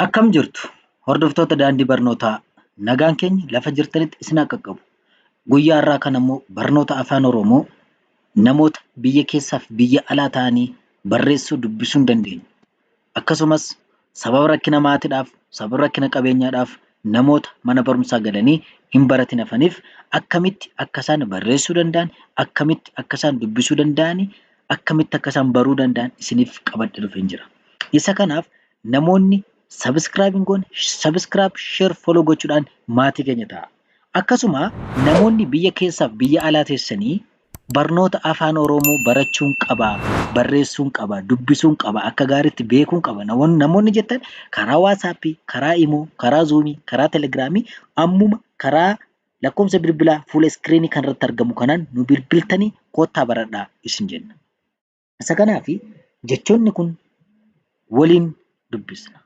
Akkam jirtu hordoftoota daandii barnootaa nagaan keenya lafa jirtanitti isin haa qaqqabu. Guyyaa har'aa kana immoo barnoota afaan Oromoo namoota biyya keessaaf biyya alaa ta'anii barreessuu dubbisuu hin dandeenye akkasumas sababa rakkina maatiidhaaf sababa rakkina qabeenyaadhaaf namoota mana barumsaa galanii hin baratin hafaniif akkamitti akka isaan barreessuu danda'an akkamitti akka isaan dubbisuu danda'anii akkamitti akka isaan baruu danda'an isiniif qabadhe dhufeen jira. Isa kanaaf Namoonni subscribe hin goone subscribe share follow gochuudhaan maatii keenya ta'a. Akkasuma namoonni biyya keessaaf biyya alaa teessanii barnoota afaan Oromoo barachuun qaba, barreessuun qaba, dubbisuun qaba, akka gaariitti beekuun qaba namoon- namoonni jettan karaa WhatsApp, karaa Imo, karaa Zoom, karaa Telegram ammuma karaa lakkoofsa bilbilaa fuula screen kanarratti argamu kanaan nu bilbiltanii koottaa baradhaa isin jenna. Isa kanaaf jechoonni kun waliin dubbisna.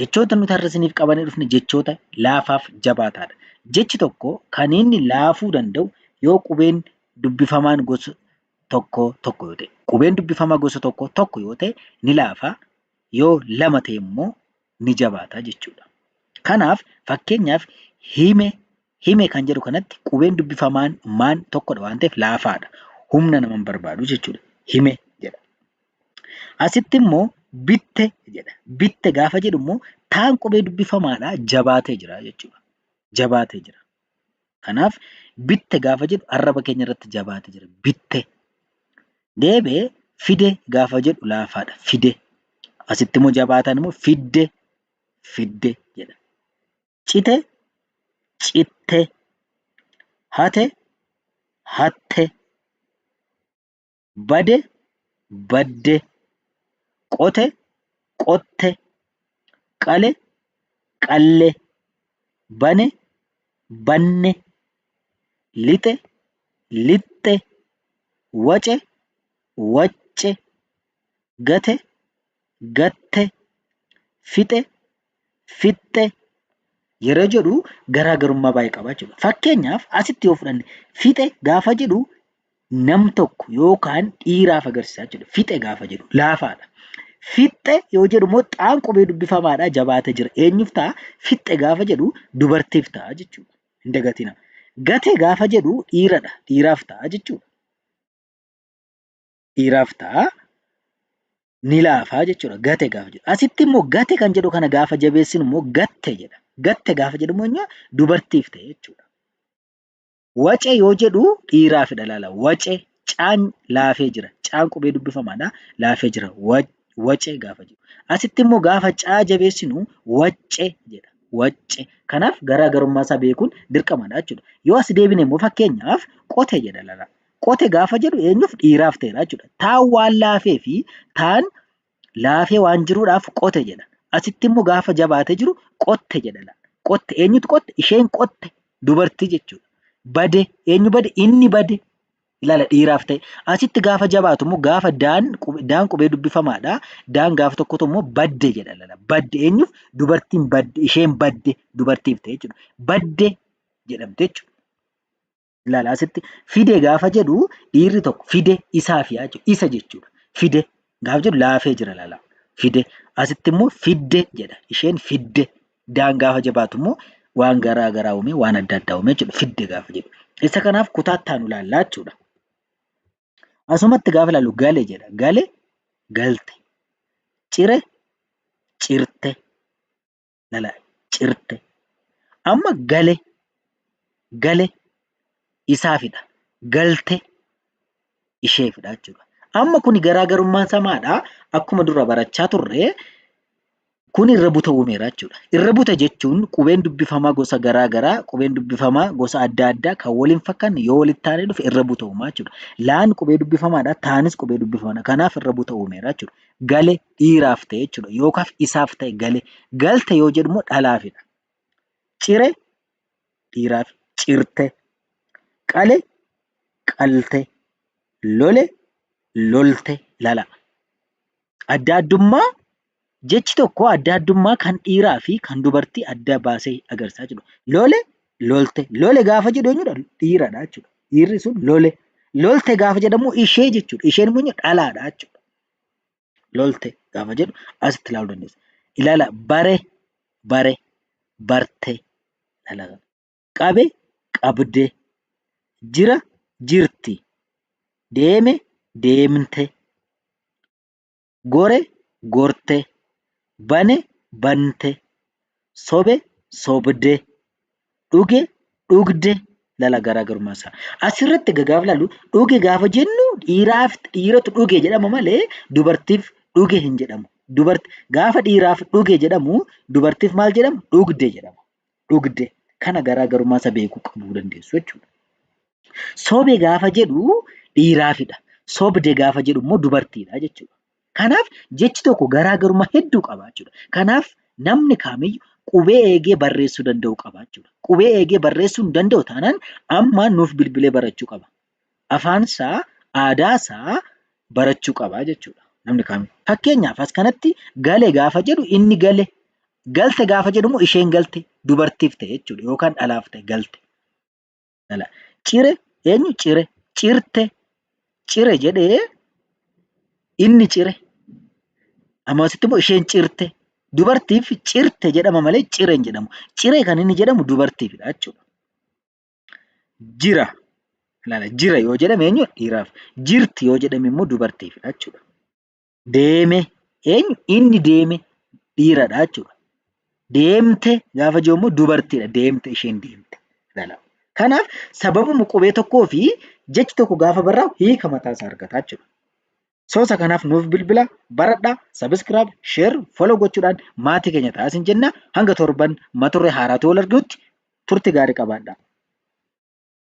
Jechoota nuti har'a isiniif qabannee dhufne jechoota laafaaf jabaataadha. Jechi tokko kan inni laafuu danda'u yoo qubeen dubbifamaan gosa tokkoo tokko yoo ta'e. Qubeen dubbifamaa gosa tokkoo tokko yoo ta'e ni laafa. Yoo lama ta'e immoo ni jabaata jechuu dha. Kanaaf, fakkeenyaaf, hime, hime kan jedhu kanatti qubeen dubbifamaan maan tokko dha waan ta'eef laafaa dha. Humna nama hin barbaadu jechuu dha. Hime jedha. Asitti immoo bitte jedha. Bitte gaafa jedhu immoo taan qubee dubbifamaa dha, jabaatee jira jechuu dha. Jabaatee jira. Kanaaf bitte gaafa jedhu arraba keenya irratti jabaate jira. Bitte. Deebi'ee fide gaafa jedhu laafaadha. Fide. Asitti immoo jabaataan immoo fidde fidde jedha. Cite citte. Hate hatte. bade, badde, qote, qotte, qale, qalle, bane, banne, lixe, lixxe, wace, wacce, gate, gatte, fixe, fixxe yeroo jedhu garaagarummaa baay'ee qaba jechuudha. Fakkeenyaaf asitti yoo fudhanne fixe gaafa jedhu nam tokko yookaan dhiiraaf agarsiisa jechuudha. Fixe gaafa jedhu laafaadha. Fixxe yoo jedhu immoo xaan qubee dubbifamaadha jabaatee jira. Eenyuuf ta'a? Fixxe gaafa jedhu dubartiif ta'a jechuudha. Hin dagatina. Gate gaafa jedhu dhiiradha. Dhiiraaf ta'a jechuudha. dhiiraaf ta'a. Ni laafaa jechuudha. Gate gaafa jedhu. Asitti immoo gate kan jedhu kana gaafa jabeessinu immoo gatte jedha. Gatte gaafa jedhu immoo eenyu? dubartiif ta'e jechuudha. Wace yoo jedhu dhiiraafidha laala. Wace caan laafee jira. Caan qubee dubbifamaadha. Laafee jira. Wa- Wace gaafa jedhu. Asitti immoo gaafa caa jabeessinu wacce jedha. Wacce. Kanaaf garaagarummaa isaa beekuun dirqamadha jechuudha. Yoo as deebine immoo fakkeenyaaf qote jedha laala. Qote gaafa jedhu eenyuuf dhiiraaf ta'edha jechuudha. Taan waan laafee fi taan laafee waan jiruudhaaf qote jedha. Asitti immoo gaafa jabaatee jiru qotte jedha. Qotte eenyutu qotte? Isheen qotte dubartii jechuudha. Bade eenyu bade? Inni bade. Ilaala dhiiraaf ta'e. Asitti gaafa jabaatu immoo gaafa daan daan qubee dubbifamaadha. Daan gaafa tokkotu immoo badde jedha. Ilaala badde eenyuuf? Dubartiin badde isheen badde dubartiif ta'e jechuudha. Badde jedhamte jechuudha. Ilaala asitti fide gaafa jedhu dhiirri tokko fide isaaf yaa jedhu isa jechuudha. Fide gaafa jedhu laafee jira ilaala. Fide asitti immoo fidde jedha. Isheen fidde daan gaafa jabaatu immoo waan garaa garaa uumee waan adda addaa uumee jechuudha. Fidde gaafa jedhu. Isa kanaaf kutaa itti aanu ilaallaa jechuudha. Asumatti gaafa ilaallu gale jedha. Gale galte. Cire cirte. lala cirte amma gale gale isaafidha galte isheefidha jechuudha. Amma kuni garaagarummaan isaa maadha? Akkuma dura barachaa turre kuni irra buta uumeera jechuudha. Irra buta jechuun qubeen dubbifamaa gosa garaa garaa qubeen dubbifamaa gosa adda addaa kan wal hin fakkaanne yoo walitti aanee dhufe irra buta uumaa jechuudha. Laan qubee dubbifamaadha taanis qubee dubbifamaadha kanaaf irra buta uumeera jechuudha. Gale dhiiraaf ta'e jechuudha. Yookaaf isaaf ta'e gale. Galte yoo jedhu immoo dhalaafidha. Cire dhiiraaf cirte. Qale qalte. Lole lolte. Lala. Adda addummaa jechi tokko adda addummaa kan dhiiraa fi kan dubartii adda baasee agarsiisa jechuudha. Lole lolte. Lole gaafa jedhu eenyudha? Dhiiradha jechuudha. Dhiirri sun lole. Lolte gaafa jedhamu ishee jechuudha. Isheen immoo dhalaadha jechuudha. lolte gaafa jedhu asitti ilaaluu dandeessa. Ilaala bare bare barte ilaala. Qabe qabde jira jirti deeme deemte gore gorte bane bante sobe, sobde, dhuge, dhugde ilaala garaagarummaa isaa. Asirratti egaa gaafa ilaallu dhuge gaafa jennu dhiiraaf dhiiratu dhuge jedhama malee dubartiif dhuge hin jedhamu. Gaafa dhiiraaf dhuge jedhamu dubartiif maal jedhama? Dhugde jedhama. Dhugde. Kana garaagarummaa isaa beekuu qabuu dandeessu jechuudha. Sobe gaafa jedhu dhiiraafidha. Sobde gaafa jedhu immoo dubartiidha jechuudha. Kanaaf jechi tokko garaa garummaa hedduu qaba jechuudha. Kanaaf namni kaamiyyu qubee eegee barreessuu danda'uu qaba jechuudha. Qubee eegee barreessuu hin danda'u taanaan amma nuuf bilbilee barachuu qaba. Afaan isaa, aadaa isaa barachuu qaba jechuudha namni kaamiyyu. Fakkeenyaaf as kanatti gale gaafa jedhu inni gale, galte gaafa jedhu immoo isheen galte dubartiif ta'e jechuudha yookaan dhalaaf ta'e galte. Lala. Cire eenyu cire cirte cire jedhee inni cire amma asitti immoo isheen cirte dubartiif cirte jedhama malee cire hin jedhamu. Cire kan inni jedhamu dubartiifidha jechuudha. Jira lala jira yoo jedhame eenyu dhiiraaf jirti yoo jedhame immoo dubartiifidha jechuudha. deeme eenyu inni deeme dhiiradha jechuudha. Deemte gaafa jiru immoo dubartiidha deemte isheen deemte. Kanaaf sababuma qubee tokkoo fi jechi tokko gaafa barraa'u hiika mataa isaa argata jechuudha. Soosa kanaaf nuuf bilbila baradhaa sabiskiraayib sheer foloo gochuudhaan maatii keenya ta'aa isin jenna hanga torban mata duree haaraatiin wal arginutti turtii gaarii qabaadhaa.